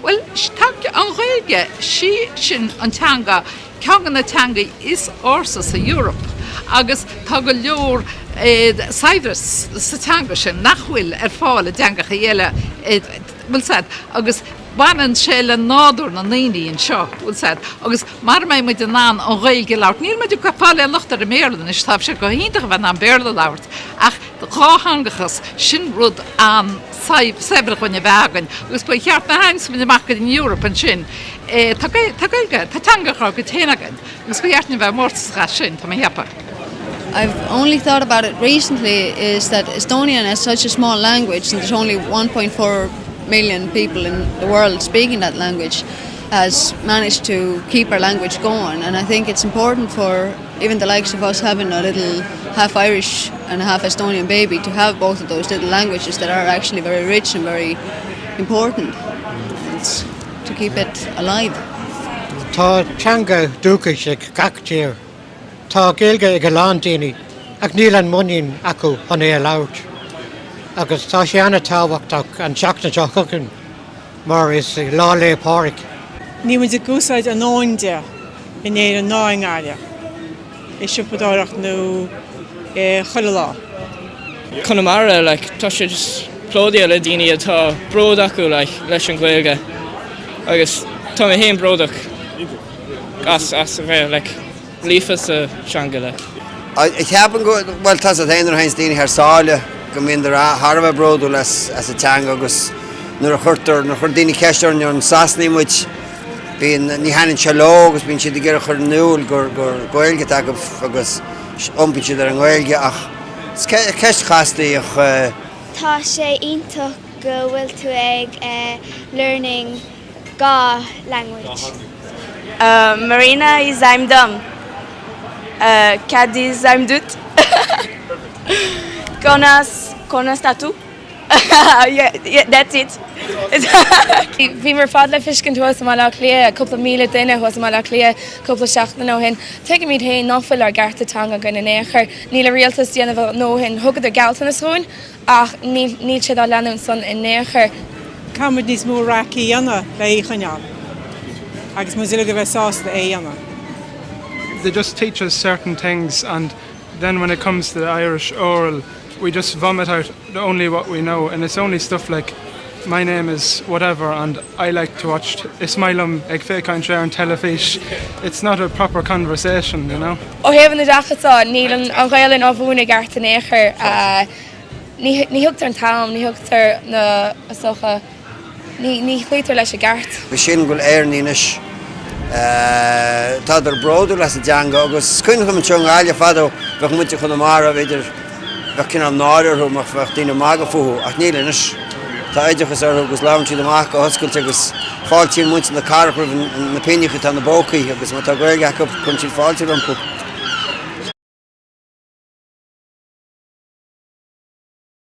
Bhuel, tá an Ghaeilge, sí sin an teanga, ceann de na teangaí is ársa sa Eoraip agus tá go leor saibhreas sa teanga sin nach bhfuil ar fáil i dteangachaí eile, an bhfuil a fhios agat, agus baineann sé le nádúr na ndaoine anseo, an bhfuil a fhios agat, agus mara mbeidh muid in ann an Ghaeilge a labhairt, níl muid ag fáil aon locht ar an mBéarla anois, tá sé go hiontach a bheith in ann Béarla a labhairt ach dátheangachas, sin rud an-saibhir dhúinn a bheith againn agus ba cheart na hainsmaine amach go dtí an Eoraip ansin tá Gaeilge, tá teangacha gcuid féin againn agus ba cheart linn a bheith mórtasach as sin, tá mé cheapadh. I've only thought about it recently is that Estonian as such a small language and there's only 1.4 million people in the world speaking that language has managed to keep our language going and I think it's important for Even the likes of us having a little half Irish and a half Estonian baby to have both of those little languages that are actually very rich and very important and to keep it alive. Tá teanga dúchais ag gach tír. Tá Gaeilge ag a lán daoine ach níl an muinín acu chun é a labhairt. Agus tá sé an-tábhachtach an tseachtain seo chugainn. Mar is Lá 'lé Pádraig. Níl muid ag úsáid a ndóthain de in Éirinn ná i nGaillimh, i siopadóireacht nó i chuile lá. Conamara like tá sé just plódaithe le daoine a bhfuil bród acu like leis an Ghaeilge agus tá mé féin bródach as as a bheith like. líofa sa teanga like. Ceapaim go bhfuil fiú amháin roinnt daoine thar sáile go mbíonn thar a bheith bródúil as a teanga agus nuair a chuirtear, nuair a chuir daoine ceist orainn an Sasanaigh muid bíonn, ní thaitnionn sé leo agus bíonn siad ag iarraidh a chur in iúl gur, gur Gaeilge atá againn agus iompaíonn siad ar an nGaeilge ach is ceist chasta í ach. Tá sé iontach go bhfuil tú ag learning. Gaeilge language. Marina is ainm dom. Cad is ainm duit? Conas conas tá tú? That's it. Bhíomar ar fad le feiscint thuas i mBaile Átha Cliath, cúpla míle duine thuas i mBaile Átha Cliath cúpla seachtain ó shin. Tuigimid féin ná fuil ár gcearta teanga againn in aon chor. Níl an rialtas ag déanamh a ndóthain. Thugadar gealltanais dhúinn Ach níl sé dá leanúint san in aon chor. Caithfimid níos mó raic a dhéanamh le é a choinneáil, agus muid uilig a bheith sásta é a dhéanamh. they just teach us certain things and then when it comes to the Irish oral we just vomit out only what we know and it's only stuff like. My name is whatever and I like to watch Is maith liom ag féachaint ar an teilifís It's not a proper conversation, you know. Ó thaobh an oideachais de, níl an Ghaelainn á mhúineadh i gceart in aon chor. Ní thugtar an t-am, ní thugtar na, ní chloítear leis i gceart. B'shin go bhfuil Éireannaigh anois, tádar bródúil as a dteanga agus is cuimhin liom anseo i nGaillimh fadó, bheadh muintir Chonamara, bh'fhéidir, Bheadh cineál náire orthu má bheadh daoine magadh fúthu, ach níl anois. Tá oideachas orthu agus labhrann siad amach go hoscailte agus fáiltíonn muintir na cathrach roimh na pingneacha atá ina bpócaí agus má tá Gaeilge acu cuireann siad fáilte rompu.